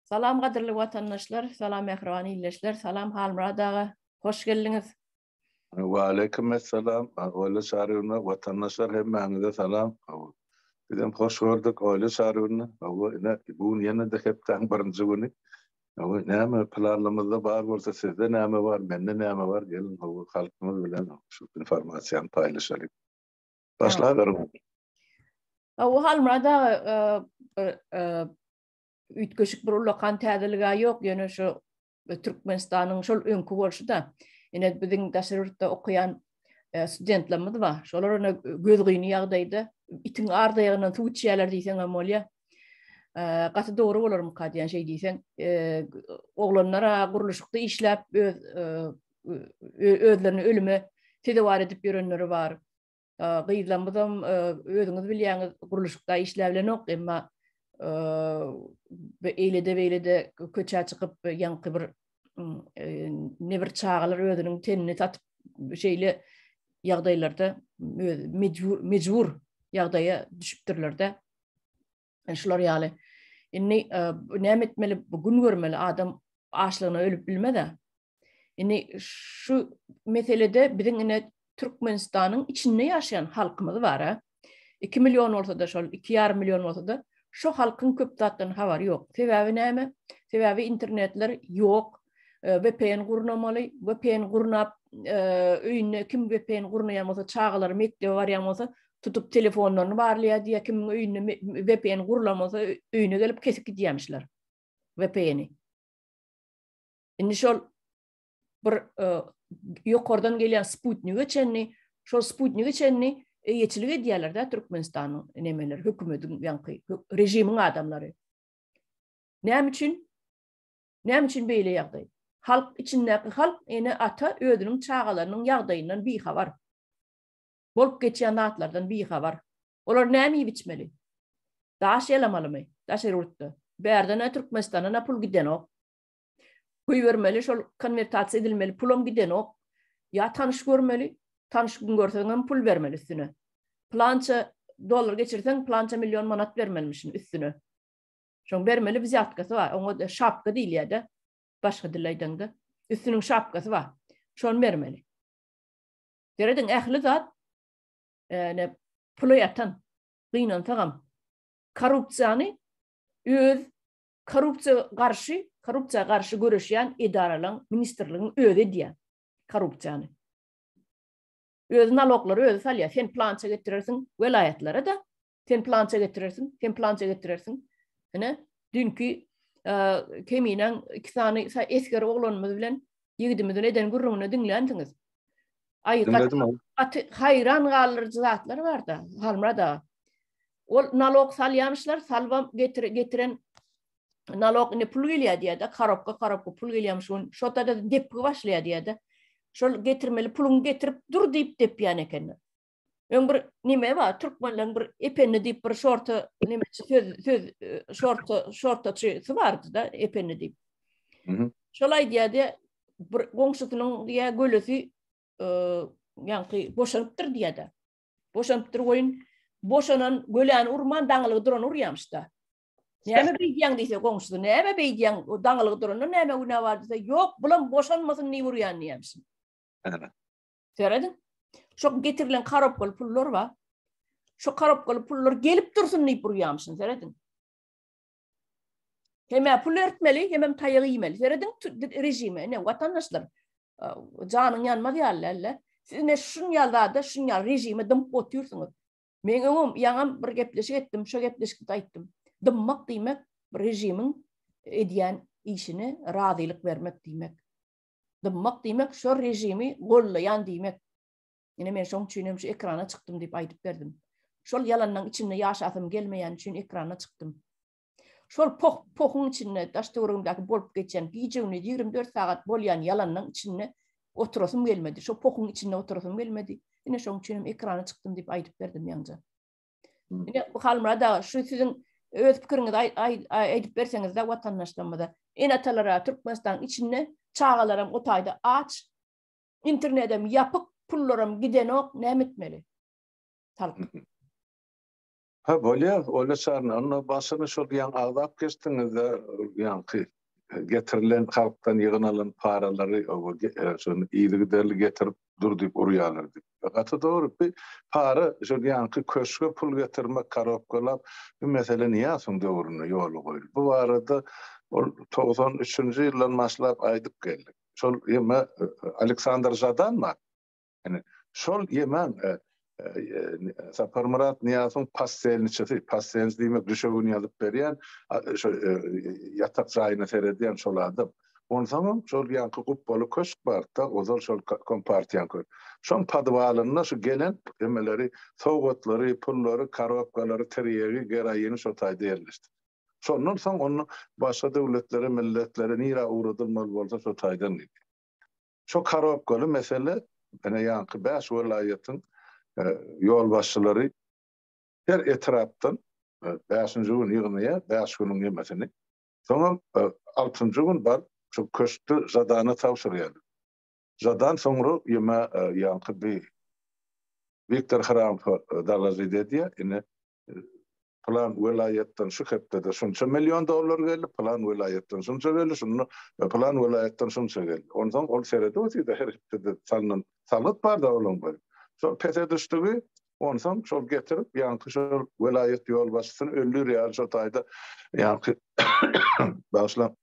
Salam gadyrly watandaşlar, salam mähriban ildeşler, salam Halmyrat aga, hoş geldiňiz. Waleýkim essalam, Oýly Çarybyna, watandaşlar hemmäňize salam. Bizem hoş gördük Oýly Çarybyny. Hawa, ine bu gün ýene-de hepdäň birinji güni. Hawa, näme planymyzda bar bolsa, sizde näme bar, mende näme bar, geliň, hawa, halkymyz bilen şu informasiýany paýlaşalyň. Başlaberiň. Awa Halmurad aga üýtgeşik bir ulakan täzelige ýok, ýöne şu Türkmenistanyň şol öňki bolşy-da, ýene biziň daşary ýurtda okaýan e, studentlerimiz bar. Şolar ýene gözgyny ýagdaýda itiň ardaýagyndan suw içýärler diýseň hem bolýar. E, gaty dogry bolarmyka diýen şey diýseň, e, oglanlara gurluşykda işläp öz özlerini ölüme sezewar edip ýörenleri bar. gyzlarymyzam özüňiz bilýäňiz gurluşykda işläp bilenok emma eýlede beýlede köçä çykyp ýaňky bir ne bir çagalar özüniň tenini satyp şeýle ýagdaýlarda mejbur mejbur ýagdaýa düşüpdirler-de. E, şular ýaly. Indi e, näme etmeli? Bu gün görmeli adam açlygyna ölüp bilmez-ä. Indi şu meselede biziň ine Türkmenistanyň içinde ýaşaýan halkymyz bar-a. 2 million bolsa-da şol 2,5 million bolsa-da şu halkyň köp zatdan habary ýok. Sebäbi näme? Sebäbi internetler ýok. E, VPN gurnamaly, VPN gurnap e, öýünde kim VPN gurnaýan bolsa, çagalary mekdebe barýan bolsa, tutup telefonlaryny barlaýardy ýa kimiň öýünde VPN gurulan bolsa öýüne gelip kesip gidýärmişler VPN-i. Indi şol bir e, ýokardan gelýän sputnige çenli, şol sputnige çenli eýeçilik edýärler-de Türkmenistanyň nemeler, hökümetiň ýaňky režimiň adamlary. Näme üçin? Näme üçin beýle ýagdaý? Halk içindäki halk ene ata özüniň çagalarynyň ýagdaýyndan bihabar. Bolup geçýän zatlardan bihabar. Olar näme iýip-içmeli? Daş ýalamalymy? Daşary ýurtda. Bärden-ä Türkmenistandan-a pul gidenok. Goýbermeli, şol konwertasiýa edilmeli pulam gidenok. Ýa tanyş görmeli, tanyş kim görseňem pul bermeli üstüne. Pylança dollar geçirseň, pylança million manat bermelimişin üstüne. Şoň bermeli wzýatkasy bar. Oňa-da şapka diýilýär-de, başga dilde aýdaňda. Üstüniň şapkasy bar. Şony bermeli. Serediň ähli zat ene pula ýatan gynansagam korrupsiýany öz korrupsiýa garşy korrupsiýa garşy göreşýän edaralaryň ministrligiň özi edýär korrupsiýany. Öz naloglary özi salýar. Sen plança getirersiň welaýatlara da Sen plança getirersiň, sen plança getirersiň. Ine, dünki keminen iki sany esger oglanymyz bilen ýigidimizin eden gürrüňini diňlänsiňiz. Aý, gaty haýran galdyryjy zatlar bar-da, Halmada. Ol nalog salýamyşlar, salbam getiren nalog indi pul gelýär diýär-de, karobka, karobka pul gelýärmiş, şun şota-da depgi başlaýar diýär-de. Şol getirmeli puluňy getirip dur diýip depýän ekenler. Öň bir nime ba, türkmenleň bir ependi diýip bir şorta nime söz söz şorta şortaçy bardy da ependi diýip. Mhm. Şol aýdýardy, bir goňşusynyň diýä gölesi e, ýaňky boşanypdyr diýädi. Boşanypdyr goýun. Boşanan göläni urman daňylygy duran urýamyş da. Näme beýdýäň diýse goňşusy, näme beýdýäň o daňylygy duranda näme günä bar diýse, ýok, bulam boşanmasyn diýip urýan diýämsin. Serediň. Şo getirilen karobkaly pullar bar. Şo karobkaly pullar gelip dursun diýip urýamşyn, serediň. Hemä pul ertmeli, hemem taýagy iýmeli. Serediň režime, ne watandaşlar. Janyň ýanmaz ýaly elle. Siz ne şun ýalda, şun ýal režime dymyp otursyňyz. Men öňüm ýaňam bir gepleşik etdim, şo gepleşikde aýtdym. Dymmak diýmek bir režimiň edýän işine razylyk bermek diýmek. dymmak diýmek şo režimi gollaýan diýmek. Ine men şoň üçin hem şu ekrana çykdym diýip aýdyp berdim. Şol ýalanyň içinde ýaşasym gelmeýäni üçin ekrana çykdym. Şol poh pohuň içinde daş töweregimdäki bolup geçen gije gündüz ýigrimi dört sagat bolýan ýalanyň içinde oturasym gelmedi. Şo pohuň içinde oturasym gelmedi. Ine şoň üçin hem ekrana çykdym diýip aýdyp berdim ýaňja. Ine bu Halmurad aga şu siziň öz pikiriňizi aýdyp berseňizde watandaşlarymyza. Ene-atalara Türkmenistanyň içinde çagalaram o taýda aç, internedem ýapyk, pullaram gidenok, näme etmeli? Halk. Ha bolýar, Oýla Şarna, onda başyny şol ýaňy agzap geçdiňizde, ýaňky getirilen halkdan ýygnalan paralary şony yzygiderli getirip dur diýip urýarlar diýip. Gaty dogry, bi para şo ýaňky köşge pul getirmek, karobkalap, bi mesele Nyýazowyň döwründe ýola goýuldy. Bu barada ol togsan üçünji ýyldan başlap aýdyp geldik. Şol ýeme Aleksandr Žadanma? Yani şol ýemen e, Saparmyrat Niýazowyň pastelniçisi, pastelniç diýmek düşegini ýazyp berýän, şo e, ýatak jaýyna seredýän şol adam. Onsoň hem şol ýanky gupbaly köşk barda, ozal şol kompartiýaň köşk. Şoň podwalynda şu gelen emeleri, sowgatlary, pullary, korobkalary, tirýegi, geroini şo taýda ýerleşdi. Şondan soň onu başga döwletlere, milletlere nirä ugradylmaly bolsa şo taýdan gitdi. Şo karobkaly mesele ene ýanky bäş welaýatyň ýolbaşçylary her etrapdan bäşinji gün ýygnaýa bäş günüň ýemesini. Soňam altynjy gün bar şo köşkde žadana tabşyrýar. Žadan soňra ýeme ýanky bi Wiktor Hrampho dalažit edýä ene plan welaýatdan şu hepdede şunça million dollar geldi, plan welaýatdan şunça geldi, şunda e, plan welaýatdan şunça geldi. Ondan ol seredi otýar her hepdede salnan salgyt bar da olam bar. Şol pese düşdügi ondan şol getirip ýaňky şol welaýat ýolbaşçysyny öldür ýaly şol taýda ýaňky başla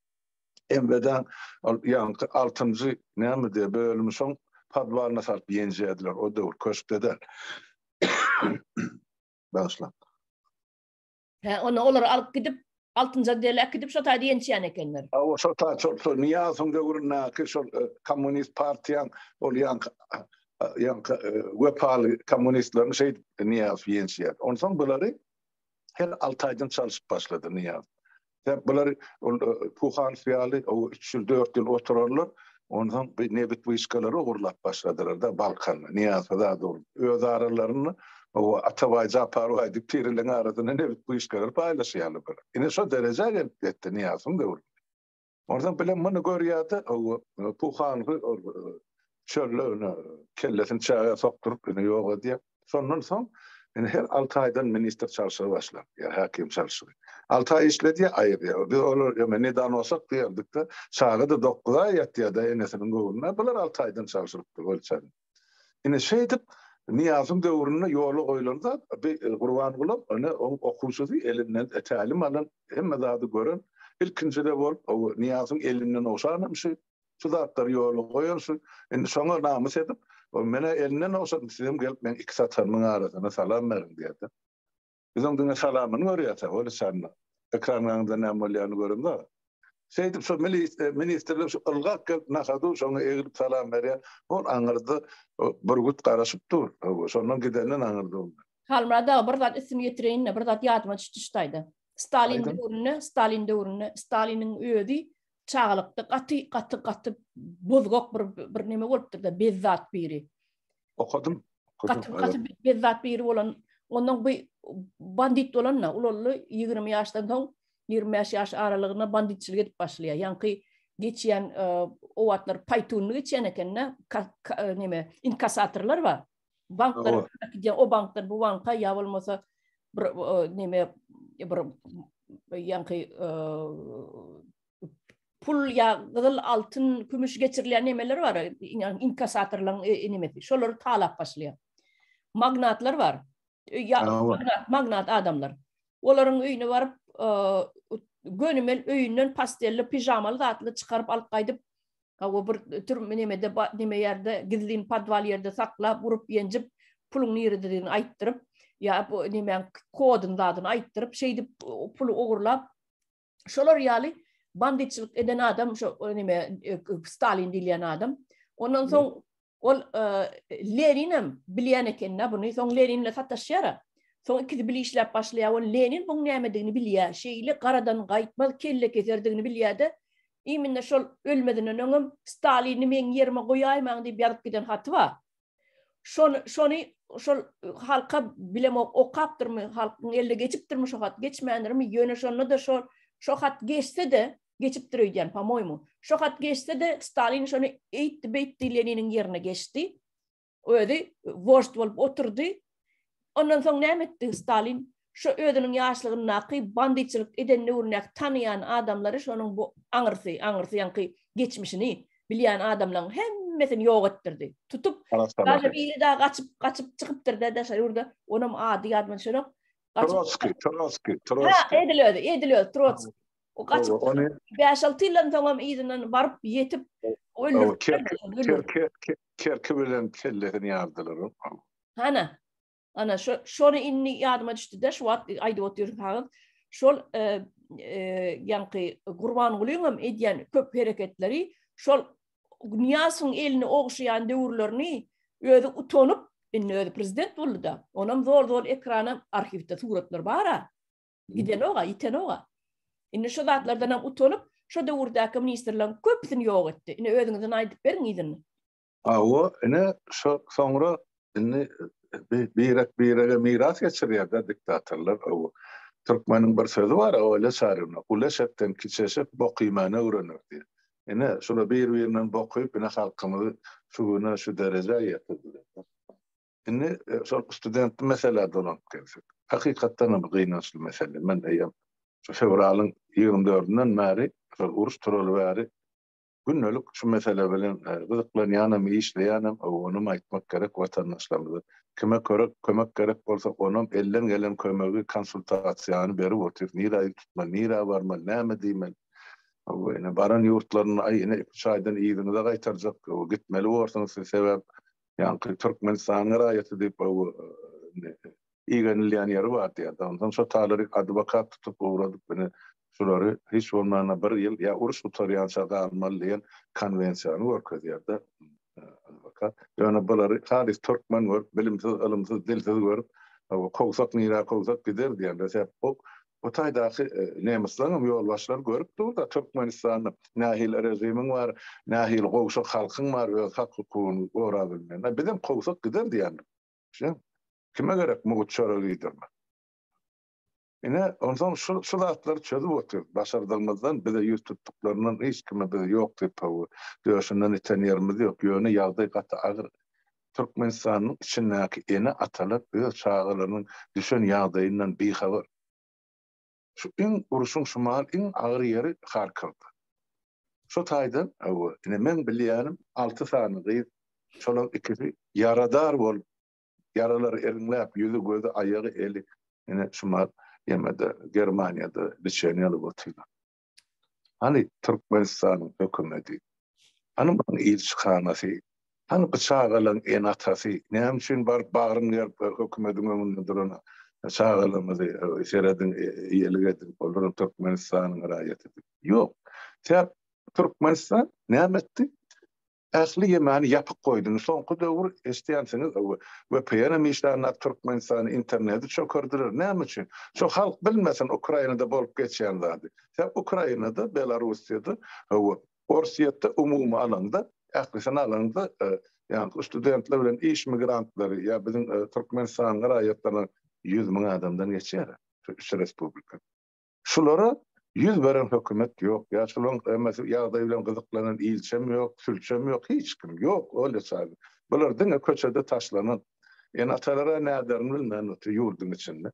Embedan ol ýaňky 6-njy näme diýe bölümi şoň podwalyna salyp ýenjediler o döwür köşkde bagyşlap. Hä, onda olary alyp gidip, Altynjan deli äkidip şo taýda ýençýän ekenler. Hawa, şo taý, şol, şol Nyýazowyň döwründäki şol e, kommunist partiýaň ol ýanky ýanky e, wepaly kommunistlerini şeýdip Nyýazow ýençýär. Onsoň bulary her alty aýdan çalyşyp başlady Nyýazow. Sebäp bular Puhans ýaly o 3 ýyl 4 ýyl oturarlar. Onsoň bir nebit wyşkalary ogurlap başladylar da Balkan, Niýaza da dur. Öz aralarynda o Atabaý Japar baý diýip tiriliň arasynda nebit wyşkalary paýlaşýarlar bular. Ine şo derejä gelip ýetdi Niýazyň döwründe. Onsoň bilen muny görýärdi o Puhans çölde ýöne kellesini çägä sokduryp ýöne ýok edýär. Şondan soň indi her alty aýdan ministr çalşygy başlar, ýa häkim çalşygy. Alty aý işledýär, aýyrýar. Biz olar ýöne ne danosak diýerdik-de, çaga-da dokuz aý ýatýar-da enesiniň göwnünde, bular alty aýdan çalşyrypdyr welçem. Ine şeýdip Nyýazyň döwründe ýola goýlan zat bi Gurbangulam ine oň okuwçysy elinden tälim alan, hemme zady gören, ilkinji-de bolup o Nyýazyň elinden owşanamşy, Şu zatlary ýola goýar, şu indi şoňa namys edip, ol menä elinden ogşadyp, sizem gelip meň iki satarymyň arasyna salam beriň diýerdi. Biz oň diňe salamyny görýärdik, ol içandan. Ekranyň aňynda näme bolýanyny göremzok. Şeýdip şu ministrler şu ylgap gelip nahadu şoňa eglip salam berýär. Ol aňyrda bürgüt garaşyp dur. Hawa, şondan gidenden aňyrda ol. Halmyrat aga bir zat üstümi ýetireýin-le, bir zat ýadyma düşdi şu taýda. Stalin döwründe, Stalin döwründe, Staliniň özi Çagalykda gaty gaty gaty bozgak bir bir neme bolupdyr-da, bezzat biri. Okadym. Gaty gaty bezzat biri bolan, ondan bu bandit bolanda, ulully 20 ýaşdan soň 25 ýaş aralygynda banditçilik edip başlaýar. Ýaňky geçýän e, o wagtlar paýtunly geçýän ekende, neme, inkasatorlar bar. Banklar gidýär, o bankdan bu banka ýa bolmasa bir näme bir ýaňky pul ýa gyzyl altyn kümüş geçirilýän nämeler bar inkasatorlaryň näme şolary talap başlaýar magnatlar bar ýa magnat magnat adamlar olaryň öýüne baryp gönümel öýünden pastelli pijamaly zatly çykaryp alyp gaýdyp Hawa bir türm nemede neme ýerde gizlin podwal ýerde saklap urup ýenjip puluň nirededigini aýtdyryp ýa bu nemäň kodyny zadyny aýtdyryp şeýdip puly ogurlap şolar ýaly banditçilik eden adam şo neme e, Stalin diýilýän adam ondan soň Ol Lenin hem bilýän ekeni buny. Soň Lenin bilen sataşýar. Soň ikisi bile işläp başlaýar. Ol Lenin buň nämedigini bilýär. Şeýle garadan gaýtmaz kellekeserdigini bilýär-de, iýminde şol ölmezinden öňem Stalini meň ýerime goýaýmaň diýip ýazyp giden haty bar. Şony şony şol halka bilemok okapdyrmy, halkyň eline geçipdirmi şo hat, geçmändirmi, ýöne şonda-da şo şo hat geçse-de, Geçipdir öýdýän, po-moýmu. Şo hat geçse-de, Stalin şony eýtdi-beýtdi, Leniniň ýerine geçdi. Özi wožd bolup oturdy. Ondan soň näme etdi Stalin? Şo özüniň ýaşlygyndaky bandyçylyk eden döwründäki tanaýan adamlary şonuň bu aňyrsy, aňyrsy ýaňky geçmişini bilýän adamlaryň hemmesini ýok etdirdi. Tutup, daşa biri dagy gaçyp, gaçyp çykypdyr-da daşa ýurda, onam ady ýadyma düşenok. Trotsky, Trotsky, Trotsky. Ha, edil özi, edil özi, Trotsky. O gaçyp çykyp, bäş-alty ýyldan soňam yzyndan baryp ýetip, öldüripdirler. Kerki bilen kellesini ýardylar. Hana, ana, şony indi ýadyma düşdi-de, şu wagt aýdyp otyrsaňyz, şol ýaňky Gurbangulynyňam edýän köp hereketleri, şol Nyýazowyň elini ogşaýan döwürlerini özi utanyp, indi özi prezident boldy-da, onam zol-zol ekrana, arhiwde suratlar bar-a, Gidenok-a, ýitenok-a. Indi şu zatlardan hem utanyp, şu döwürdäki ministrleriň köpüsini ýok etdi. Indi özüňizden aýdyp beriň yzyny. Hawa, ine şu soňra indi birek-birege miras geçirýär-de diktatorlar. Türkmeniň bir sözi bar, Öle çaryna, Ulu eşekden kiçi eşek bok iýmäni öwrener diýip. Ine, şular bir-birinden bok iýip, ine halkymyzy şu güne, şu derejä ýetirdiler. Indi şol studentli meselä dolanyp gelsek. Hakykatdan hem gynançly mesele. Men eýýäm şu fewralyň ýigrimi dördünden bäri, şol uruş turaly bäri gündelik şu mesele bilen gyzyklanýanam, işleýänem, onuňam aýtmak gerek watandaşlarymyza. Kime körek, kömek gerek bolsa, onam elden gelen kömegi, konsultasiýany berip otyr. Nirä ýüz tutmaly, nirä barmaly, näme diýmeli? Hawa, ine, baran ýurtlarynda, aý, ine, iki-üç aýdan yzyňyza gaýtarjak, gitmeli borsuňyz siz, sebäp ýaňky Türkmenistanyň raýaty diýip igenilýän ýeri bardy ýa-da ondan şo talary adwokat tutup ugradyp ine şulary hiç bolmanda bir ýyl ýa uruş gutarýança galmaly diýen konwensiýany görkezýärdi adwokat ýöne bulary halys türkmen görüp bilimsiz ylymsyz dilsiz görüp kowsak nirä kowsak gider diýen resep bu Bu taýdaky nemisleriňem ýolbaşçylary görüp dur-da, Türkmenistanda nähili režimiň bar, nähili gowşak halkyň bar, öz hak-hukugyny gorap bilmeýän. Bizem kowsak gider diýendir. Şuň. Kime gerek mugt çöre liderler? Ine, onsoň şu, şu zatlary çözüp otyrys. Başardygymyzdan, bize ýüz tutduklaryndan, hiç kime biz ýok diýip, hawa, döşünden iten ýerimiz ýok. Ýöne ýagdaý gaty agyr. Türkmenistanyň içindäki ene-atalar öz çagalarynyň düşen ýagdaýyndan bihabar. Şu iň uruşyň şumal iň agyr ýeri Harkowda. Şo taýdan, hawa, ine meň bilýänim alty sany gyz, şolaň ikisi ýaradar bolup, ýaralary iriňläp, ýüzi, gözi, aýagy, eli ine şumal ýemede, Germaniýada, biçeni ýalyp otyrlar. Hany Türkmenistanyň hökümeti? Hany munuň ilçihanasy? Hany bu çagalaryň ene-atasy? Näme üçin baryp bagryny gerip hökümetiň öňünde duran çagalarymyzy serediň, eýelik ediň, olaram Türkmenistanyň raýaty diýip. Ýok. Türkmenistan näme etdi? Ähli ýemany ýapyk goýdum. Soňky döwür eşdýänsiňiz öwi. Vpn-em işlänok Türkmenistany interneti çökerdiler. Näme üçin? Şu halk bilmesin Ukrainada bolup geçýän zady. Sen Ukrainada, Belarussiýada we Orsýetde umumy alaňda, ählisini alaňda ýaňky studentler bilen iş migrantlary ýa biziň Türkmenistanyň raýatlaryny ýüz müň adamdan geçýär şu üç respublikada. Şulara ýüz beren hökümet ýok, ýa şularyň emmesi ýagdaý bilen gyzyklanan ilçem ýok, sülçem ýok, hiç kim ýok, olýa çagy. Bular diňe köçede taşlanan ene-atalara näderin bilmän otyr ýurduň içinde.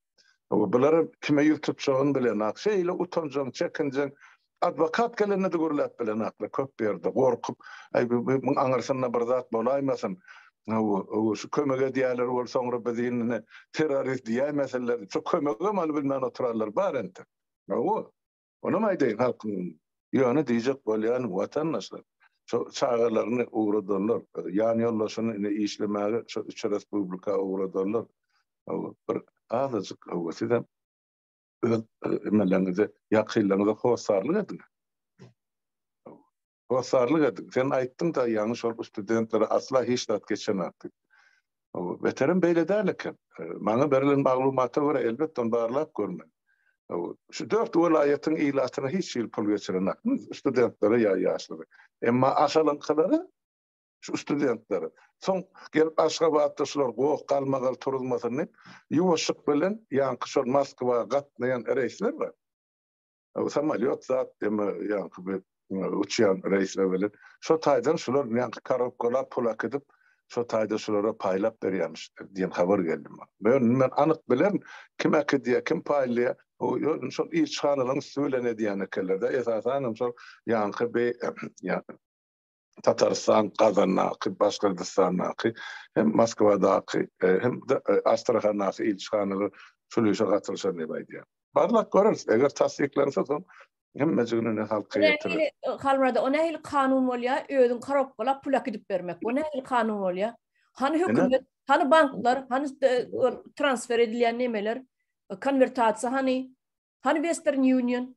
Bular kime ýüz tutjagyny bilenok, şeýle utanjaň, çekinjeň, adwokat gelende-de gürläp bilenoklar köp ýerde, gorkup, aý, bu, bu, muň aňyrsyna bir zat bolaýmasyn, Hawa, hawa, şu kömek edýärler ol soňra bizi indi terrorist diýäýmesinler, şu kömegem alyp bilmän oturarlar bar entek. Hawa, onam aýdaýyn halkyň ýöne diýjek bolýanym watandaşlar, şu çagalaryny ugradanlar, ýan ýoldaşyny indi işlemäge şu üç respublika ugradanlar, hawa, bir azajyk, hawa, sizem öz emeleriňize, ýakynlaryňyza hossarlyk ediň. Hawa, Hossarlyk edip, sen aýtdyň-da ýaňy şol ustudentlere asla hiç zat geçenak diýip. Beterem beýle däl eken. Maňa berilen maglumata görä, elbetde ony barlap görmeli. Şu dört welaýatyň ilatyna hiç hili pul geçirenak, ustudentlere ýa ýaşlara. Emma Aşalyňkylara, şu ustudentlere. Soň gelip Aşgabatda şular goh galmagal turuzmasyn diýip, ýuwaşyk bilen ýaňky şol Moskwa gatnaýan reýsler bar. Bu samalýot zat deme ýaňky bir uçýan reýsler bilen. Şo taýdan şular ýaňky korobkalap pul akydyp, şo taýda şulara paýlap berýämiş diýen habar geldi maňa. Ýöne men anyk bilen kim akydýa, kim paýlaýa, bu ýöne şol ilçihanalaryň üsti bilen edýän ekenler-de, esasanam şol ýaňky be ýa. Tatarystan, Kazandaky, Başgyrdystandaky hem Moskwadaky e, hem de e, Astrahandaky ilçihanalar şul işe gatylşan diýip aýdýar. Barlak göreris, eger tassyklansa soň hemmejigini ne halka getirir. Halmyrada, o nähili kanun bolýa, özüň korobkala pul akidip bermek, o nähili kanun bolýa? Hany hökümet, hany banklar, hany e, transfer edilýän nemeler, konwertasiýa hany, hany Western Union?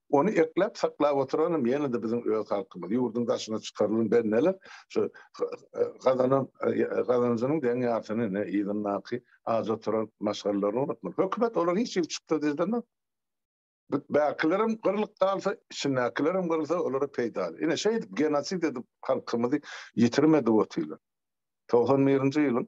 Ony ekläp, saklap oturanam ýene-de biziň öz halkymyz. Ýurduň daşyna çykarylan bendeler şu gazanan gazanjynyň deň ýarsyny ne yzyndaky aç oturan maşgalalaryny unutmaly. Hökümet olar hiç hili çykda diýdenok. Bäkilerem gyrlyp galsa, içindäkilerem gyrylsa olara peýdaly. Ine şeýdip genosid edip halkymyzy ýitirim edip otyrlar. Togsan birinji ýylyň.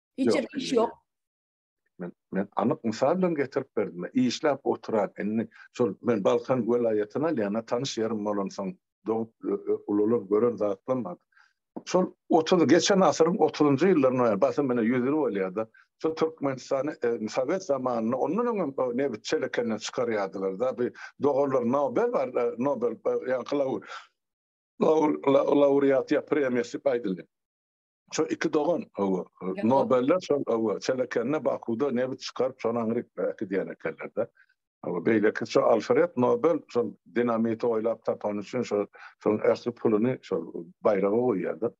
Içerki iş ýok. Men, men anyk mysal bilen getirip berdim. Işläp oturan, indi şol men Balkan welaýatyna alýan, tanyş ýerim bolansoň, dogup, ulalyp gören zatym bar. Şol otuz, geçen asyryň otuzynjy ýyllarynda ýa basym mine ýüz ýyl bolýar-da, şol Türkmenistany sowet zamanynda ondan öňem nebit çelekenden çykarýardylar-da. Bir doganlar Nobel bar, Nobel ýa-da Laur, Laur, Laur, Laureat ýa premiýasy aýdylýar. Şo iki dogan owo. Nobeller şo owo. Çelekende Bakuda nebit çykaryp şony aňryk äki diýen ekenlerde. Owo beýleki şo Alfred Nobel şo dinamiti oýlap tapany üçin şo şoň ähli puluny şo baýraga goýýarda.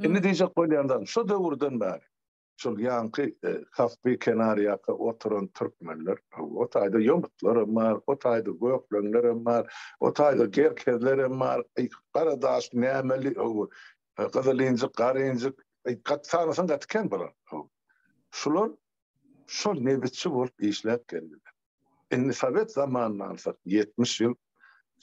Indi diýjek bolýan zat şo döwürden bäri. şol ýaňky Kaspi kenarýaka oturan türkmenler, o taýda ýomutlar hem bar, o taýda gökleňler hem bar, o taýda gerkezler hem bar, garadaş, nämeli, gyzylinjik, garinjik, gaty sanasaň gaty kän bular. Şular şol nebitçi bolup işläp geldiler. Indi sowet zamanyny alsak, ýetmiş ýyl,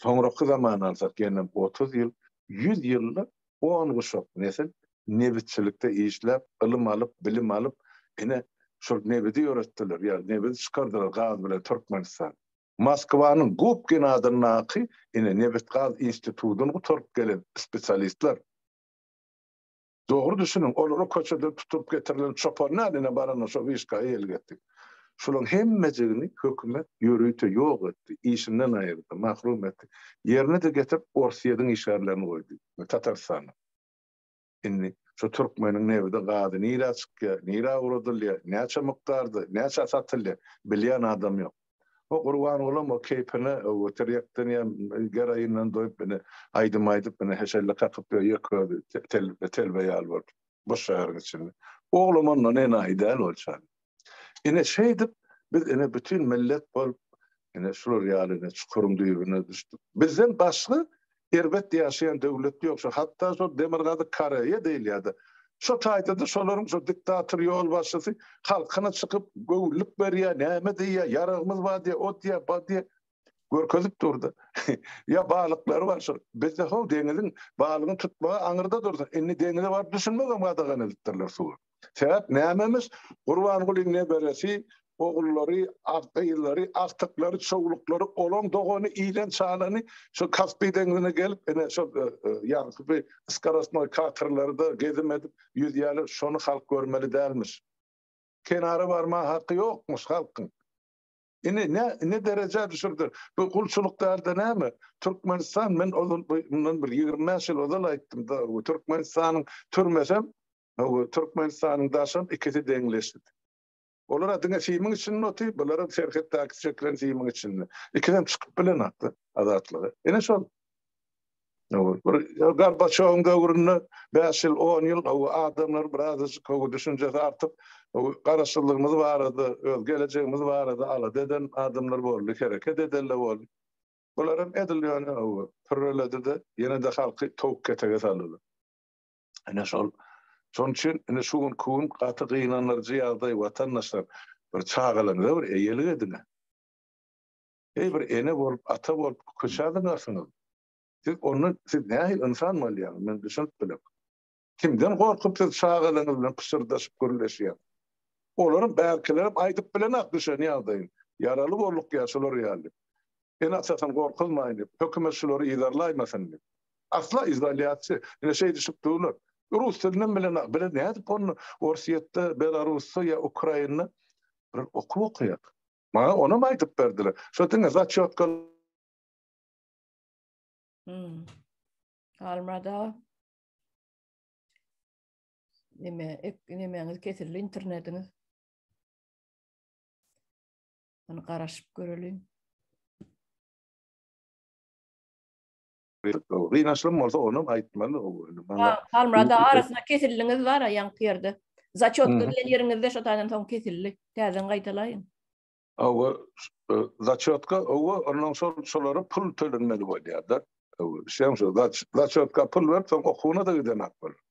soňraky zamany alsak, ýene otuz ýyl, ýüz ýylda On guşak nesil nebitçilikde işläp, ylym alyp, bilim alyp, ine, şol nebidi ýöretdiler, ýa nebidi çykardylar gaz bilen Türkmenistan. Moskwanyň Gubkin adyndaky, ine, nebit-gaz institudyny gutaryp gelen spesialistler. Dogry düşüniň, olara köçeden tutulyp getirilen çopan däl, ine, barana şo wiçka eýelik etdik. Şolaryň hemmejigini hökümet ýörite ýok etdi, işinden aýyrdy, mahrum etdi. Ýerine-de getirip Orsýediň işgärlerini goýdy we Tatarystanyň. Indi şu türkmeniň nebidi, gazy nirä çykýar, nirä ugradylýar, näçe mukdarda, näçä satylýar, bilýän adam ýok. O Gurbangulam o keýpine o tirýekden ýa geroindan doýup indi aýdym aýdyp indi heşelle kakyp ýöýek özi telbe ýaly bolup. bir şäheriň içinde. Oglam ondan enaýy däl bolçan. Ine şeýdip biz ine bütün millet bolup ine şular ýaly ine çukuryň düýbüne düşdük. Bizden başga erbet ýaşaýan döwlet ýok. Şu hatda şu Demirgazyk Koreýa diýilýärdi. Şu taýda-da şolaryň şu diktator ýolbaşçysy halkyna çykyp göwünlik berýär, näme diýýär, ýaragymyz bar diýýär, o diýýär, bu diýýär. görkezip durdy. Ýa balyklary bar şol. Bizde ho deňiziň balygyny tutmagy aňyrda dursun. Indi deňize baryp düşünmek hem gadagan edipdirler suwa. Sebäp nämemiş? Gurbangulyň neberesi, ogullary, gyzlary, agtyklary, çowluklary, olaň dogany, ilen çalany şol Kaspiý deňizine gelip, ine şol e, e, ýagty bir skarosnoý katerlerde gezim edip ýüzýärler. Şony halk görmeli dälmiş. Kenara barma haky ýokmuş halkyň. Indi ne ne derejä düşürdi? Bu gulçulyk dälde näme? Türkmenistan men ozal bundan bir 25 ýyl ozal aýtdym da, bu Türkmenistanyň türmesem, bu Türkmenistanyň daşam ikisi deňleşdi. Olar diňe simiň içinde otyr, bularam serhetdäki çekilen simiň içinde. Ikisem çykyp bilenok-da azatlyga. Ine şol. Gorbaçowyň döwründe bäş ýyl, on ýyl gowy adamlar birazajyk gowy düşünjesi artyp, garaşsyzlygymyz barada, öz gelejegimiz barada alada eden adamlar boldy, hereket edenler boldy. Bular hem edil ýöne gowy pürreledi-de, ýene-de halky towuk-ketege saldylar. Ine şol, şonuň üçin indi şu günki gün gaty gynandyryjy ýagdaý, watandaşlar, bir çagalaryňyza bir eýelik ediň-ä! Eý bir ene bolup, ata bolup köçä zyňarsyňyz. Siz onda siz nähili ynsan bolýaňyz, men düşünip bilem. Kimden gorkup siz çagalaryňyz bilen pyşyrdaşyp gürleşýäňiz. Olaryň bärkilerem aýdyp bilenak düşen ýagdaýyny. Ýaraly bolduk ýa şular ýaly. Ene-atasyny gorkuzmaýyn diýip, hökümet şulary yzarlaýmasyn diýip. Asla izolýasiýa. Ine şeý düşüp durlar. Rus dilinem bilenak. Bile nädip onda Orsýetde, Belarusda ýa Ukrainda bir okuw okaýar. Maňa onam aýdyp berdiler. Şo diňe zaçýotka. Hmm. Almada nime nimeňiz kesildi internetiňiz Ony garaşyp göreliň. Gynaçlym bolsa onam aýtmaly gowy indi maňa. Bar Halmyrat aga arasyna kesildiňiz bara ýaňky ýerde. Začýotka diýen ýeriňizde şo taýdan soň kesildi. Täzeden gaýtalaýyň. Hawa začýotka owa ondan soň şolara pul tölenmeli bolýada. Owa şeň şo začýotka pul berip soň okuwyna-da gidenok bolar.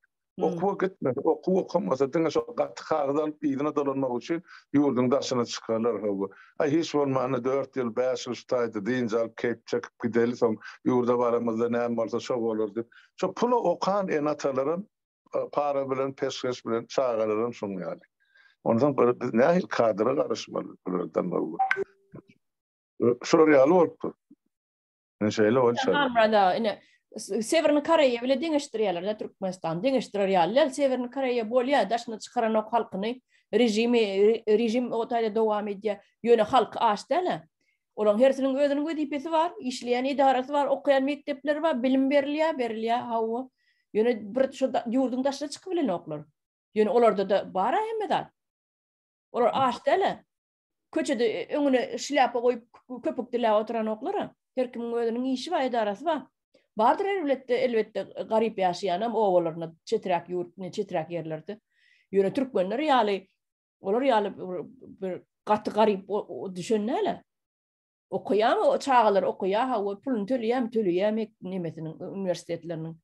Okuwa gitmedi. Okuw okamasa diňe şo gaty kagyz alyp yzyna dolanmak üçin ýurduň daşyna çykarlar howwa. Aý hiç bolmanda dört ýyl, bäş ýyl şu taýda dynç alyp keýp çekip gideli soň ýurda baramyzda näme bolsa şo bolar diýip. Şo pula okan ene-atalaram para bilen peşgeş bilen çagalaram şuň ýaly. Onsoň görä biz nähili kadra garaşmaly bulardan howwa. Şular ýaly bolupdyr. Ine şeýle bol şa. Hamrada ine Sewerni Koreýa bile deňeşdirýärler da Türkmenistan. Deňeşdirer ýaly däl. Sewerni Koreýa bolýar, daşyna çykaranok halkyny. Režimi režim o taýda dowam edýär. Ýöne halky aç däl. Olaň hersiniň özüniň wezipesi bar, işleýän edarasy bar, okaýan mekdepleri bar, bilim berilýär, berilýär. Hawa. Ýöne bir şu ýurduň daşyna çykyp bilenoklar. Ýöne olarda-da bar-a hemme zat. Olar aç däl. Köçede öňüne şlýapa goýup köpük diläp oturanoklar-a. Her kimiň özüniň işi bar, edarasy bar. Bardyr erbletde, elbetde, garyp ýaşaýanam obalarynda, çeträk ýurt, çeträk ýerlerde. Ýöne türkmenler ýaly, olar ýaly bir gaty garyp düşen däl-ä. Okaýan çagalar okaýar, hawa, puluny töleýärmi, töleýär nemesiniň uniwersitetleriniň.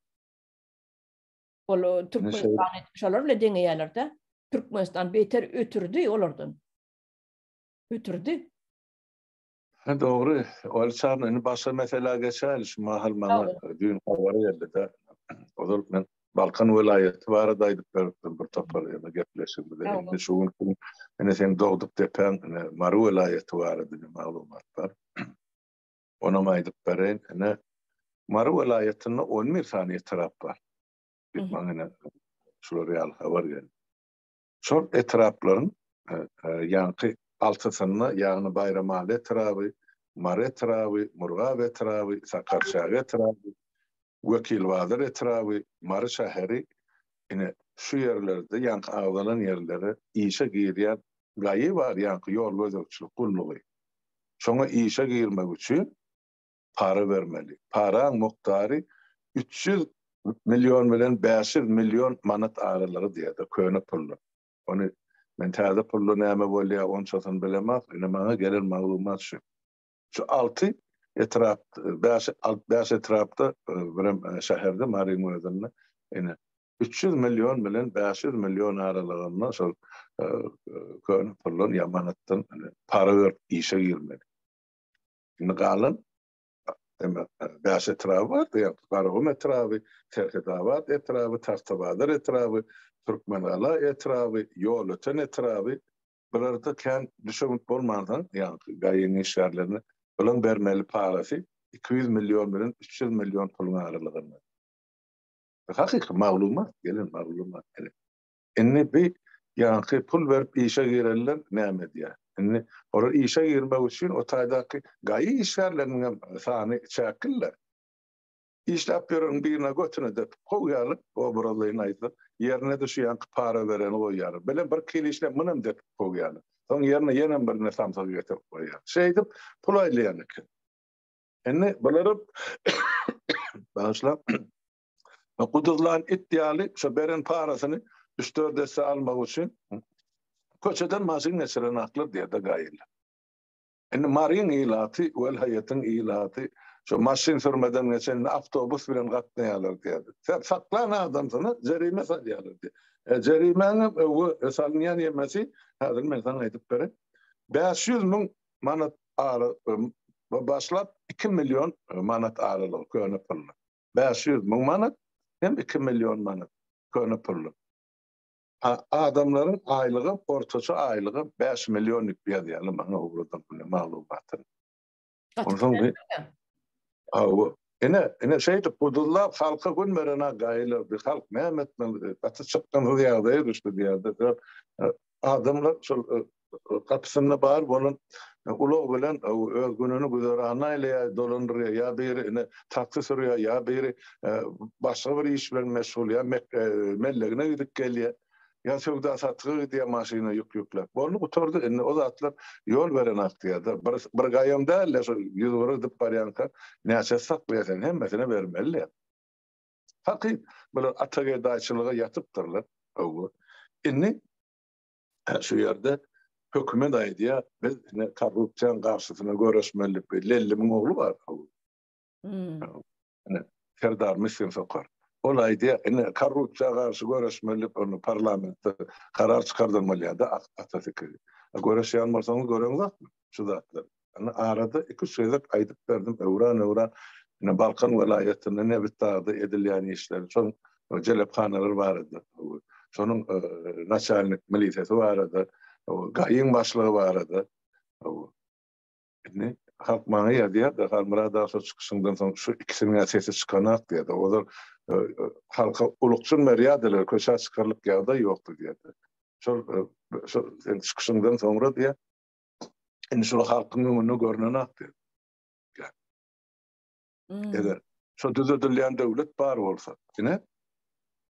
Ol Türkmenistan şolar bilen deňeýärler-de. Türkmenistan beter ötürdi olardan. Ötürdi. Ha dogry. Ol çarna indi başga meselä geçäýeli. Şu mahal maňa düýn habar geldi-de. Ozal men Balkan welaýaty barada aýdyp beripdim bir topar ýa-da gepleşigimizde. Indi şu gün ine seň dogduk depäň Mary welaýaty barada maglumat bar. Onam aýdyp bereýin. Ine, Mary welaýatynda on bir sany etrap bar. Diýip, maňa ine şular ýaly habar geldi. Şol etraplaryň ýaňky altysynda, ýagny Baýramaly etraby, Mary etraby, Murgap etraby, Sakarçäge etraby, Wekilbazar etraby, Mary şäheri, ine, şu ýerlerde ýaňky agzalan ýerlere işe girýän GAÝY bar, ýaňky ýol gözegçilik gullugy. Şoňa işe girmek üçin para bermeli. Paraň mukdary üç ýüz million bilen bäş ýüz million manat aralygy diýýärler, köne pullar. Ony men täze pulda näme bolýar, onçasyny bilemok, ine, maňa gelen maglumat şu. Şu alty etrap, bäş, alt, bäş etrapda, birem şäherde, Maryň özünde, ine, üç ýüz million bilen bäş ýüz million aralygynda şol köne puldan ýa manatdan para berip işe girmeli. Indi galan, demek, bäş etrap bardy, ýa Garagum etraby, Serhetabat etraby, Tagtabazar etraby, Türkmengala etraby, Ýolöten etraby, Bularda kän düşewünt bolmansoň, ýaňky gaýyň işgärlerine olaryň bermeli parasy iki ýüz million bilen üç ýüz million puluň aralygynda. Bu hakyky maglumat, gelen maglumat ene. Indi bi ýaňky pul berip işe girenler näme edýär? Indi olar işe girmek üçin o taýdaky gaýy işgärleriniň hem sany çäklidir. Işläp ýören birine götüni depip kowýarlyk, obrazlaýyn aýtsak, ýerine düşýänki para bereni goýýarlar. Belem bir kile işläp munem depip kowýarlar. Soň ýerine ýenem birine samsygy getirip goýýarlar. Şeýdip pul aýlaýan eken. Indi bularam bagyşla guduzlan it ýaly şo beren parasyny üç-dört esse almak üçin köçeden maşyn geçiren aklyr diýer-de gaýylar. Indi Maryň ilaty, welaýatyň ilaty şo maşyn sürmeden geçende awtobus bilen gatnaýarlar diýerdi. Sen saklan adamsyna jerime salýarlar diýdi. E, jerimäňem öwe salynýan ýemesi, häzir men saňa aýdyp bereýin, bäş ýüz müň manat ara başlap, iki million manat aralygy köne pulla. Bäş ýüz müň manat hem iki million manat köne pulla. Adamlaryň aýlygy ortaça aýlygy bäş million dip ýazýarlar maňa ugradym muny maglumatyny. Onsoň bir Hawa. Ine, ine şeýdip bu duzlap halka gün beren agaýlar bir halk näme etmeli gaty çykgynsyz ýagdaýa düşdi bu ýerde. Adamlar şol gapysynda bar bolan ulag bilen öz gününi güzeranyny aýlaýar, dolandyrýar, ýa biri ine taksi sürýär, ýa biri başga bir iş bilen meşgul, ýa mellegine gidip gelýär, ýa söwda-satyga gidýär maşyna ýük ýükläp. Boldy gutardy, indi o zatlar ýol beren aktýarda, bir bir gaýam däl-de şu ýüz bir gidip barýanka näçesi saklaýar sen hemmesine bermeli-de. Hakyt, bular atagedaýçylyga ýatypdyrlar, hawa. Indi Şu ýerde hökümet aýdýar, biz ine korrupsiýanyň garşysyna göreşmelilik. Lellimiň ogly bar. Ine Serdar Miskin Sokar. Ol aýdýar, ine korrupsiýa garşy göreşmelilik bolmaly, parlamentde karar çykardylmaly ýa-da atasy. Göreşýän bolsaňyz göreňzokmy şu zatlary? Indi arada iki-üç gezek aýdyp berdim, öwran-öwran ine Balkan welaýatynda Nebitdagda edilýän işleri, şonuň jelephanalar barada, şonuň naçalnik milisesi barada, gaýyň başlygy barada. Indi halk maňa ýazýar-da, Halmyrat aga şo çykyşyňdan soň şu ikisiniň-ä sesi çykanak diýýär-de, ozal halka ulukjyn berýärdiler, köçä çykarlyk ýagdaý ýokdy diýýär-de. Şol şo seniň çykyşyňdan soňra diýýär, Indi şol halkyň öňünde görünen akdy. Hmm. Eger şu düzedilýän döwlet bar bolsa, ine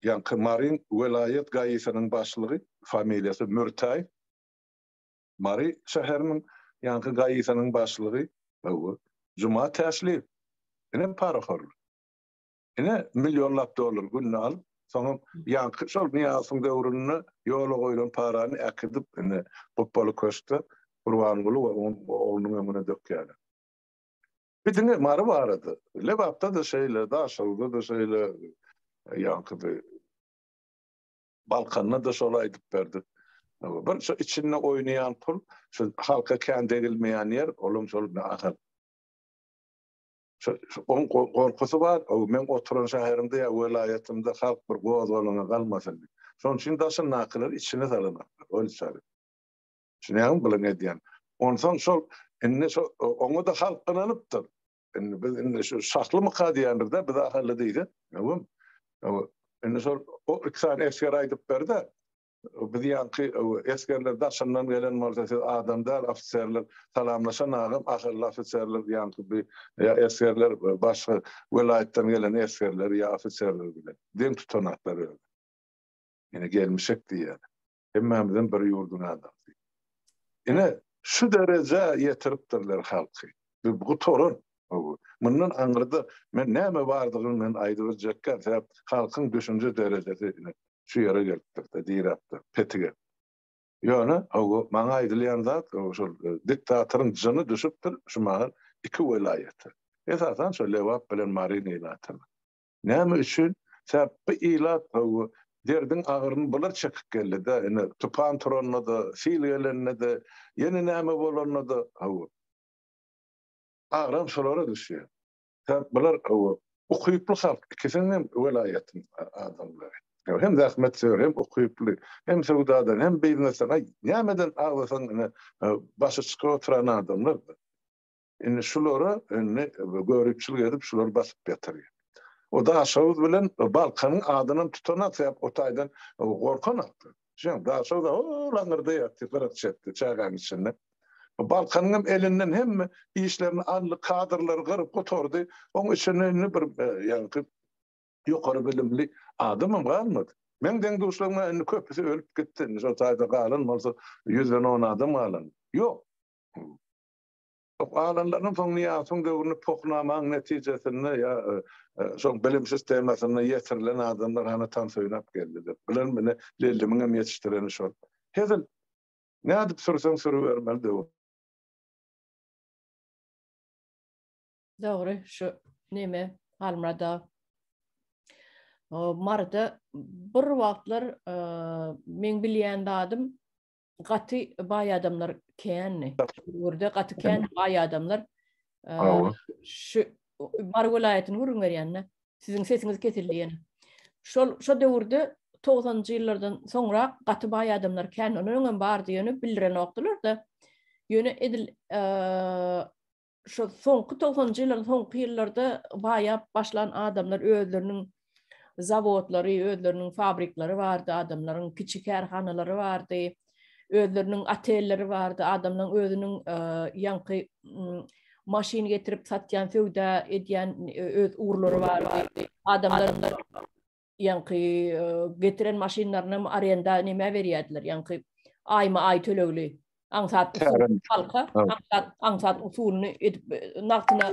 ýaňky Maryň welaýat gaýysynyň başlygy familiýasy Mürtäý. Mary şäheriniň ýaňky gaýysynyň başlygy Juma Täşli. Ine parafor. Ine, millionlap dollar günde alyp, soňam ýaňky şol Nyýazowyň döwründe ýola goýlan parany äkidip, indi Gupbaly köşkde Gurbanguly we onuň oglunyň öňüne dökýärler. Bir diňe Mary barada. Lebapda-da şeýle, Daşoguzda-da şeýle, ýaňky-da Balkanda-da şol aýdyp berdik. Bir şu içinde oýnaýan pul, şu halka kän degilmeýän ýer, olam şol nahal. Oň gorkusy bar, meň oturan şäherimde ýa welaýatymda halk bir gozgalaňa galmasyn diýip. Şonuň üçin daşyndakylar içine salanoklar, ol üçin. Düşünýäňmi bular edýän? Onsoň şol indi şo oňa-da halk gynanypdyr. Indi biz indi şu şahlymyka diýendir-de, biz ahally diýsek, indi şol o iki sany esger aýdyp ber-de, Biz ýaňky esgerler daşyndan gelen bolsa siz adam däl ofiserler salamlaşan agam ahyrly ofiserler ýaňky bi esgerler başga welaýatdan gelen esgerler ýa ofiserler bilen deň tutanaklar özi. Ýene gelmişek diýýär. Hemmämizem bir ýurduň adamsy. Ine şu derejä ýetiripdirler halky. Bu gutaran. Mundan aňyrda men näme bardygyny men aýdyp biljekkä sebäp halkyň düşünje derejesi şu ýere gelipdir-de, diräpdir, petik edip. Ýöne, hawa, maňa aýdylýan zat, hawa, şol diktatoryň jyny düşüpdir şu mahaly iki welaýata. Esasan, şo Lebap bilen Marin ilatyna. Näme üçin? Sebäp bu ilat, hawa, derdiň agyryny bular çekip geldi-de, ine, tupan turanda-da, sil gelende-de, ýene näme bolanda-da, hawa, agram şolara düşýär. Sen bular gowy. Ukyply halk ikisiniň hem welaýatyň adamlary. Hem zähmet söýer hem ukyply. Hem söwdadan hem biznesden aý nämeden aglasaň ine başy çykyp oturan adamlar. Indi şulara indi göripçilik edip şular basyp ýatyrýar. O daşoguz bilen balkanyň adynam tutanok sebäp o taýdan gorkanoklar. Şoň daşyda laňyrdy ýatdy, gyraç ýatdy çägäniň içinde. Balkanyňam elinden hemme işlerini aldy, kadrlary gyryp gutardy. Oň içinde indi bir ýaňky ýokary bilimli adamam galmady. Meň deň-duşlarymda indi köpüsi ölüp gitdi. Indi şol taýda galan bolsa ýüzden on adam galan. Ýok. Galanlarynyň soň Nyýasowyň döwründe Pohnamaň netijesinde ýa şol bilim sistemasynda ýetirilen adamlar hany tans oýnap geldiler. Bular mine Lellimiň hem ýetişdireni şol. Hezil. Nädip sürseň sürübermeli döwür. Dogry şu neme Halmyrada Maryda bir wagtlar meň bilýän zadym gaty baý adamlar kändi. Ýurda gaty kän baý adamlar. Şu bar welaýatyny gürrüň berýände siziň sesiňiz kesildi ýene. Şol şo döwürde 90-njy ýyllardan soňra gaty baý adamlar kän ondan öňem bardy ýöne bildirenokdylar-da. Ýöne edil şu soňky togsanjy ýyllaryň soňky ýyllarda baýap başlan adamlar özleriniň zawodlary, özleriniň fabrikleri bardy, adamlaryň kiçi kärhanalary bardy, özleriniň otelleri bardy, adamlaryň özüniň ýaňky maşyn getirip satýan, söwda edýän öz urlary bardy. Adamlar ýaňky getiren maşynlarynam arenda nämä berýärdiler, ýaňky aýma-aý tölegli aňsat halka aňsat aňsat usulyny edip nagtyna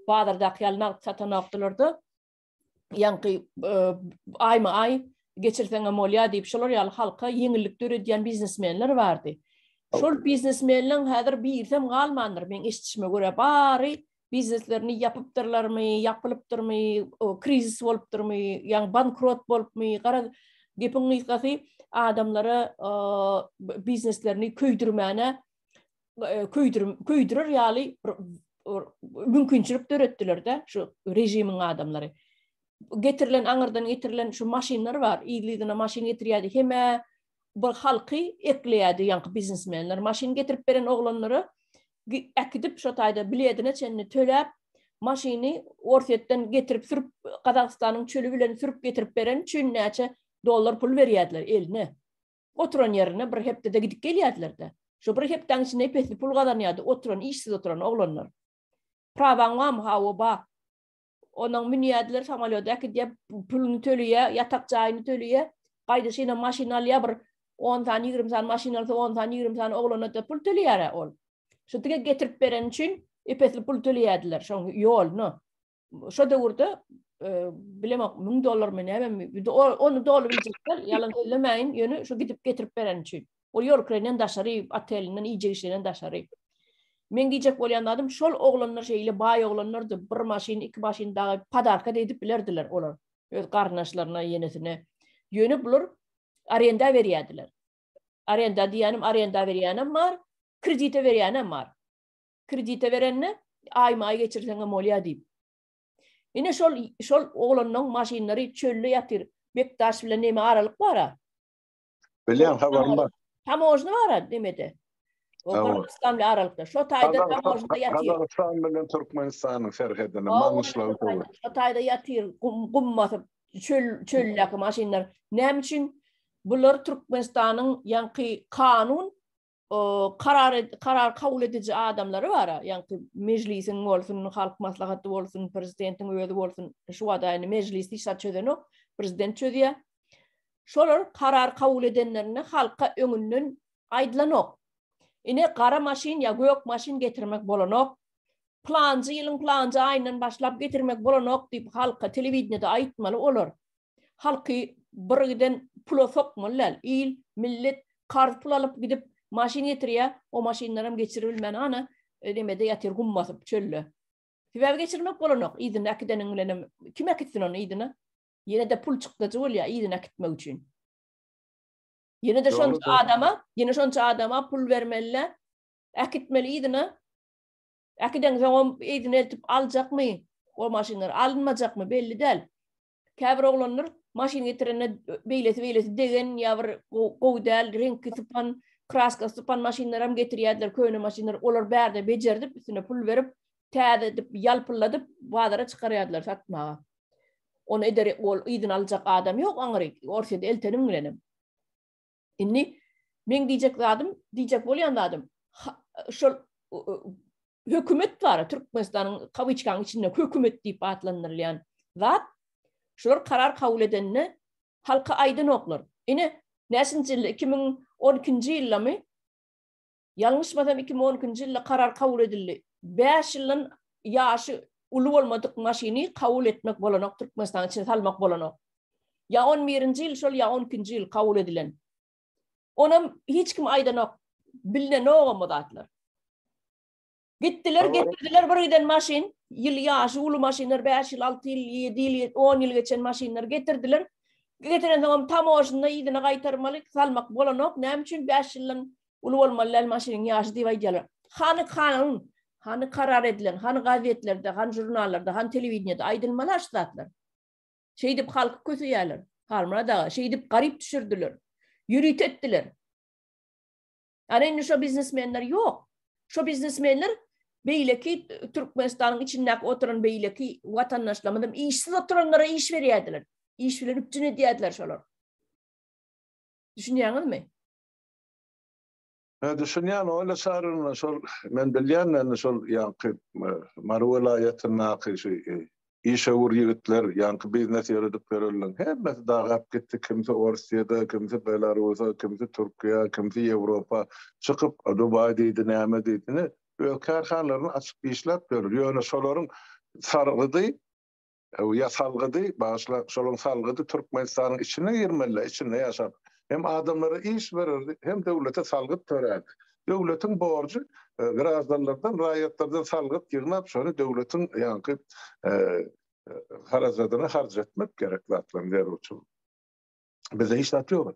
bazardaky ýaly nagt satanokdylar-da. Ýaňky e, aýma-aý geçirseň hem bolýar diýip şolar ýaly halka ýeňillik döredýän biznesmenler bardy. Şol biznesmenleriň häzir birsem galmandyr meň eşitişime görä bary bizneslerini ýapypdyrlarmy, ýapylypdyrmy, krizis bolupdyrmy, ýagny bankrot bolupmy, garaz, gepiň gysgasy adamlara bizneslerini köýdürmäne e, köýdürer ýaly mümkinçilik döretdiler-de şu režimiň adamlary. Getirilen aňyrdan getirilen şu maşynlar bar, ýygy-ýygyna maşyn getirýärdi, hemä bir halky ekleýärdi ýaňky biznesmenler. Maşyn getirip beren oglanlara äkidip şo taýda biledine çenli töläp maşyny orsýetden getirip sürüp gazagystanyň çöli bilen sürüp getirip bereni üçin näçe dollar pul berýärdiler eline oturan ýerine bir hepdede gidip gelýärdiler-de şo bir hepdäň içinde pesli pul gazanýardy oturan işsiz oturan oglanlar prawaň bamy hawa ba Onuň münýärdiler samolýoda äkidýär, puluny töleýär, ýatak jaýyny töleýär. Gaýdyşyna maşyn alýar, bir on sany, ýigrimi sany maşyn alsa, on sany, ýigrimi sany oglana-da pul töleýär-ä ol. Şu dige getirip bereni üçin ep-esli pul töleýärdiler, şoň ýoluny. Şo döwürde bilemok, müň dollarmy, nämemi, indi ony doly biljek däl, ýalan sözlemäýin, ýöne şu gidip getirip bereni üçin. Ol ýorklerinden daşary, otelinden, iýjek-içinden daşary. Meň diýjek bolýan zadym, şol oglanlar şeýle baý oglanlardy, bir maşyn, iki maşyn dagy podarka-da edip bilerdiler olar öz garyndaşlaryna, ýenesine. Ýöne bular arenda berýärdiler. Arenda diýýänim, arenda berýänem bar, kredite berýänem bar. Kredite berende, aýma-aý geçirseňem bolýar diýip. Ine şol şol oglanlaryň maşynlary çölde ýatyr. Bekdaş bilen näme aralyk bar-a? Bilýän habarym bar. Tamojny bar ha nemede. O Gazagystan bilen aralykda. Şo taýda tamojda ýatyr. Gazagystan bilen Türkmenistanyň serhedinde maňyşlaw dur. Şo taýda ýatyr, gum gum basyp, çöl çöldäki maşynlar. Näme üçin bular Türkmenistanyň ýaňky kanun karar karar kabul ediji adamlary bar. Ýagny mejlisiň bolsun, halk maslahaty bolsun, prezidentiň özi bolsun, şu wada indi mejlis hiç zat çözenok, prezident çözýär. Şolar karar kabul edenlerinde halka öňünden aýdylanok. Ine gara maşyn ýa gök maşyn getirmek bolanok. Planjy ýylyň planjy aýyndan başlap getirmek bolanok diýip halka telewideniýede aýtmaly olar. halky bir giden pula sokmaly däl. Il, millet karz pul alyp gidip maşyn getirýär, o maşynlaram geçiribilmän ana nemede ýatyr gum basyp çölde. Sebäbi geçirmek bolanok, yzyna äkideniň bilenem kim äkitsin ony yzyna? Ýene-de pul çykdajy bolýar yzyna äkitmek üçin. Ýene-de şonça adama, ýene şonça adama pul bermeli-le, äkitmeli yzyna. Äkiden soňam yzyna eltip aljakmy o maşynlar, alynmajakmy belli däl. Käbir oglanlar maşyn getirende beýlesi beýlesi degen ýa bir gowy däl reňki sypan, kraska sypan maşynlar hem getirýärdiler, köne maşynlar. Olar bärde bejerdip, üstüne pul berip, täze edip, ýalpylladyp bazara çykarýardylar satmaga. Ony eder ol yzyna aljak adam ýok aňryk. Orsýete eltenim bilenem. Indi men diýjek zadym, diýjek bolýan zadym, şol hökümet bar, Türkmenistanyň kawiçkanyň içinde hökümet diýip atlandyrylýan zat, şular karar kabul edende halka aýdanoklar. Ine, näçinji ýylda, iki müň on ikinji ýyldamy, Ýalňyşmasam iki müň on ikinji ýylda karar kabul edildi. Bäş ýyldan ýaşy uly bolmadyk maşyny kabul etmek bolanok Türkmenistanyň içine salmak bolanok. Ýa on birinji ýyl şol ýa on ikinji ýyl kabul edilen. Onam hiç kim aýdanok. Bilnenogam o zatlar. Gitdiler, getirdiler bir giden maşyn, ýyl ýaşy uly maşynlar, 5 ýyl, 6 ýyl, 7 ýyl, 10 ýyl geçen maşynlar getirdiler. Getiren soňam tamoşynda ýyzyna gaýtarmaly, salmak bolanok. Näme üçin 5 ýyldan uly bolmaly däl maşynyň ýaşy diýip aýdýarlar. Hany kanun, hany karar edilen, hany gazetlerde, hany žurnallarda, hany telewideniýede aýdylmaly aş zatlar. Şeýdip halky köseýärler. Halmyrat aga, şeýdip garyp düşürdiler. Ýörite etdiler. Ýani indi şo biznesmenler ýok. Şo biznesmenler beýleki Türkmenistanyň içindäki oturan beýleki watandaşlarymyzam işsiz oturanlara iş berýärdiler. Iş bilen üpjün edýärdiler şolar. Düşünýäňizmi? Ha, düşünýän oýla şaryna şol men bilýän men şol ýaňky Mary welaýatyndaky şu Işewür ýigitler, ýaňky biznes ýöredip ýörenleriň hemmesi dagap gitdi, kimsi Orsyýada, kimsi Belarusa, kimsi Türkiýä, kimsi Ýewropa çykyp, Dubaý diýdi, näme diýdi, ine, öz kärhanalaryny açyp işläp ýörler. Ýöne şolaryň sargydy, ýa salgydy, bagyşlaň, şolaryň salgydy Türkmenistanyň içine girmeli-dä, içinde ýaşap, hem adamlara iş bererdi, hem döwlete salgyt törärdi. Döwletiň borjy graždanlardan, raýatlardan salgyt ýygnap, şony döwletiň ýaňky harajadyna harç etmek gerek zatlaryň zerurçylygy. Bizde hiç zat ýok.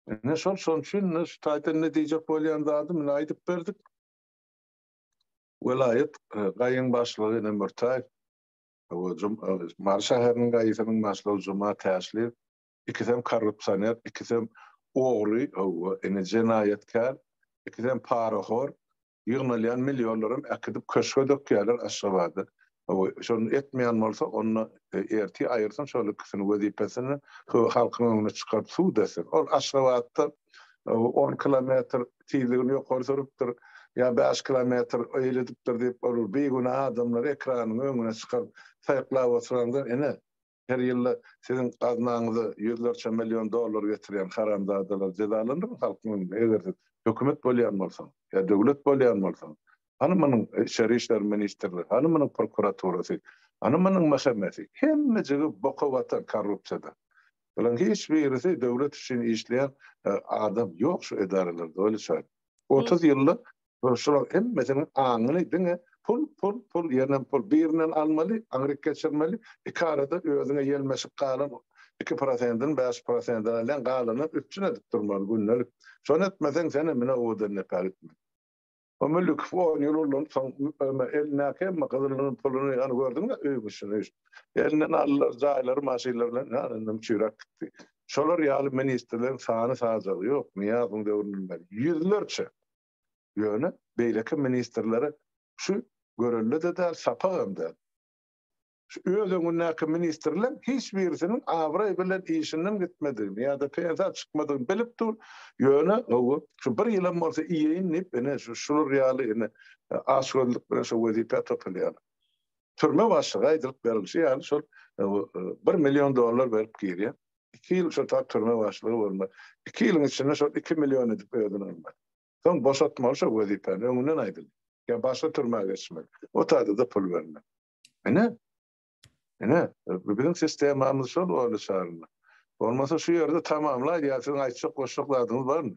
Ine şol, şonuň üçin indi şu taýdan indi diýjek bolýan zadym indi aýdyp berdik. Welaýat gaýyň başlygy indi Mürtäýew, Mary şäheriniň gaýysynyň başlygy Juma Täşliýew, ikisem korrupsioner ikisem ogry howwa ine jenaýatkär ikisem parahor ýygnalýan millionlaram äkidip köşge dökýäler aşgabada howwa şony etmeýän bolsa onda ertir aýyrsyn şol ikisini wezipesini şu halkyň öňüne çykaryp sud etsin ol aşgabatda on kilometr tizligini ýokary sürüpdir ýa bäş kilometr eýle edipdir diýip ol bigünä adamlary ekranyň öňüne çykaryp saýyklap oturandan ine Her ýylda siziň gaznaňyza ýüzlerçe million dollar getirýän haramzadalar jezalandymy halkyň öňünde? Eger siz hökümet bolýan bolsaňyz, ýa döwlet bolýan bolsaňyz, hany munuň Içeri işler ministrligi, hany munuň prokuraturasy, hany munuň mhmsi? Hemmejigi boka batan korrupsiýada. Bularyň hiç birisi döwlet üçin işleýän adam ýok şu edaralarda, Weli Çary. Otuz ýylda Ol şulaň hemmesiniň aňyny diňe pul, pul, pul, ýenem pul. Birinden almaly, aňryk geçirmeli, iki arada özüňe ýelmeşip galan iki prosendini bäş prosendini alýaň, galanyny üpjün edip durmaly gündelik. Şony etmeseň, sen hem ine owadan depä gitmeli. O Mülükow on ýyl ulanyp, soň öýme elindäki hemme gyzylyny, puluny, ýany gördüňmi, öý guşuny, üýş. Elinden aldylar, jaýlary, maşynlary bilen, ýany indem çüýräp gitdi. Şolar ýaly ministrleriň sany-sajagy ýok, Nyýazowyň döwründen bäri. Ýüzlerçe. Ýöne beýleki ministrlere şu görelde-de däl, sapagam däl. Şu öz öňündäki ministrleriň hiç birisiniň abraý bilen işinden gitmedigini ýa-da pensiýa çykmadygyny bilip dur, ýöne gowy, şu bir ýylam bolsa iýeýin diýip, ine, şu şular ýaly, ine, açgözlük bilen şo wezipä topalýarlar. Türme başlygy aýdylyp berilişi ýaly, şol bir million dollar berip girýär. iki ýyl şu tar türme başlygy bolmaly. Iki ýylyň içinde şol iki million edip özüni almaly. Soň boşatmaly şo wezipäni, öňünden aýdyldy. Ýa başga türmä geçmeli. O taýda-da pul bermeli. Ine. Ine, biziň sistemamyz şol Orly şarynda. Bolmasa şu ýerde tamamlaý ýa siziň aýtjak goşjak zadyňyz barmy?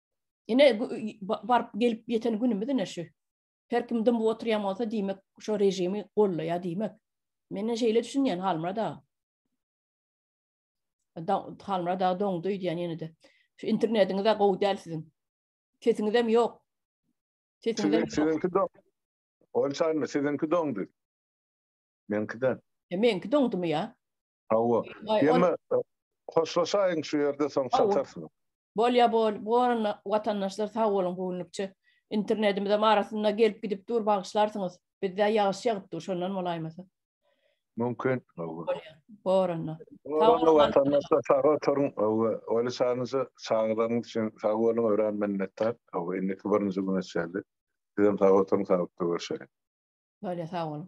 Ine baryp gelip ýeten günümiz ine şu. Her kim dymyp oturýan bolsa diýmek şu režimi gollaýar diýmek. Menden şeýle düşünýän Halmyrat aga. Halmyrat aga doňdy öýdýän ýene-de. Şu internetiňiz-de gowy däl siziň. Sesiňiz hem ýok. Sesiňiz hem Siziňki doň. Ol çaýmy siziňki doňdy. Meňki däl. E meňki doňdumy ýa? Hawa. Ýöne hoşlaşaýyň şu ýerde soň çatarsyň. Bolýa bol, bol watandaşlar sag boluň göwünlikçe. Internetimize arasynda gelip gidip dur bagyşlarsyňyz. Bizde ýagyş ýagyp dur şondan bolaýmasa. Mümkin. Bor onda. Hawa watandaşlar sag oturyň. Hawa. Oly şanyja çagalaryň üçin sag boluň örän minnetdar. Hawa indi birinji güne çenli. Sizem sag oturyň saglyk görüşeli. Bolýa sag boluň.